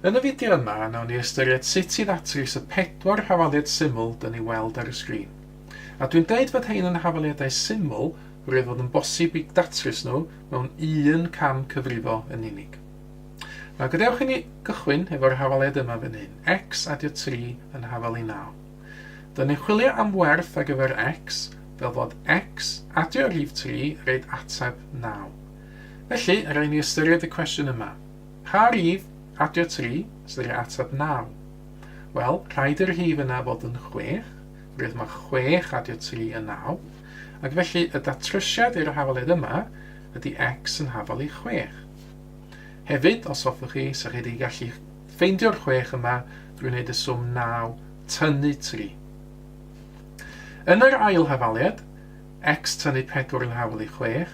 Yn y fideo yma, nawn ni ystyried sut i ddatrys y pedwar hafaliad syml dyn ni weld ar y sgrin. A dwi'n deud fod hein yn hafaliadau syml, roedd fod yn bosib i datrys nhw mewn un cam cyfrifo yn unig. Na gadewch i ni gychwyn efo'r hafaliad yma fan hyn, x adio 3 yn hafal i 9. Dyn ni'n chwilio am werth ar gyfer X, fel fod X, adio rhif 3, reid ateb 9. Felly, rhaid ni ystyried y cwestiwn yma. Pa rhif, adio 3, sydd yr ateb 9? Wel, rhaid i'r rhif yna fod yn 6, rwydd mae 6 adio 3 yn 9, ac felly y datrysiad i'r hafaledd yma ydy X yn hafal i 6. Hefyd, os hoffwch chi, sech chi wedi gallu Ffeindio'r chwech yma drwy wneud y swm naw tynnu tri. Yn yr ail hafaliad, x tynnu pedwar yn hawl i chwech,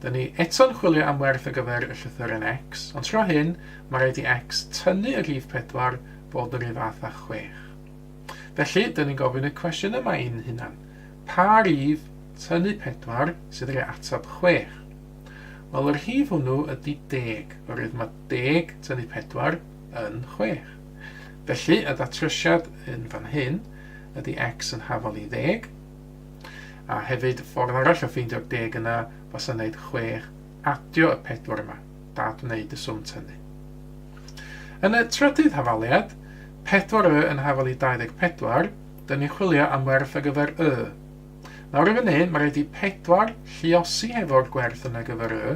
dyn ni eto'n chwilio am werth ar gyfer y llythyren x, ond tro hyn, mae rhaid i x tynnu y rhif pedwar fod yr un fath â chwech. Felly, dyn ni'n gofyn y cwestiwn yma i'n hunan, pa rif tynnu pedwar sydd roi atab chwech? Wel, y rhif hwnnw ydy deg, oherwydd mae deg tynnu pedwar yn chwech. Felly, y datrysiad yn fan hyn ydy x yn hafal i ddeg, a hefyd ffordd arall o ffeindio'r deg yna fasa wneud chwech adio y pedwar yma, dad wneud y swm tynnu. Yn y trydydd hafaliad, pedwar y yn hafal i 24, dyn ni'n chwilio am werth ar gyfer y. Nawr i fan hyn, mae rhaid i pedwar lliosi hefo'r gwerth yna gyfer y,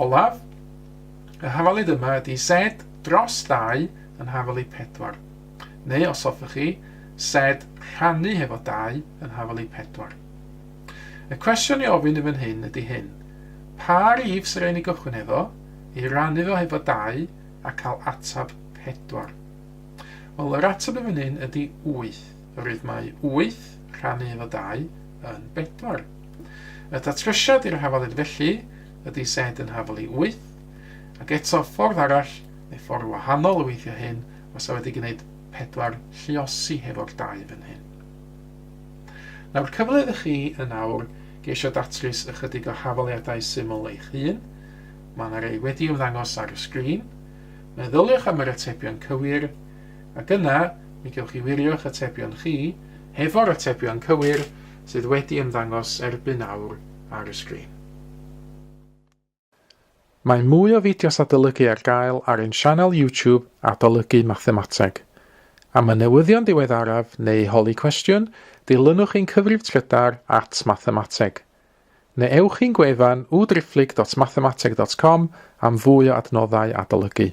Olaf, Y hafalud yma ydy sed dros dau yn hafalud pedwar. Neu os hoffech chi, sed rhannu hefo dau yn hafalud pedwar. Y cwestiwn i ofyn yn fan hyn ydy hyn, pa rif sy'n rhaid ni gychwyn hefo, ei rannu fo hefo dau a cael atab pedwar? Wel, yr atab yn fan hyn ydy wyth. rhythmau 8 rhannu efo 2 yn 4. Y datrysiad i'r hafalid felly ydy Z yn hafal i 8, ac eto ffordd arall, neu ffordd wahanol o weithio hyn, os a wedi gwneud 4 lliosi hefo'r 2 fan hyn. Nawr cyfle iddo chi yn awr geisio datrys ychydig o hafaliadau syml eich hun, mae yna rei wedi ymddangos ar y sgrin, meddyliwch am yr atebion cywir, ac yna mi gewch chi wirio'ch atebion chi hefo'r atebion cywir sydd wedi ymddangos erbyn awr ar y sgrin. Mae mwy o fideos adolygu ar gael ar ein sianel YouTube Adolygu Mathemateg. Am y newyddion diweddaraf neu holi cwestiwn, dilynwch ein cyfrif trydar at Mathemateg. Neu ewch i'n gwefan www.driphlyg.mathemateg.com am fwy o adnoddau adolygu.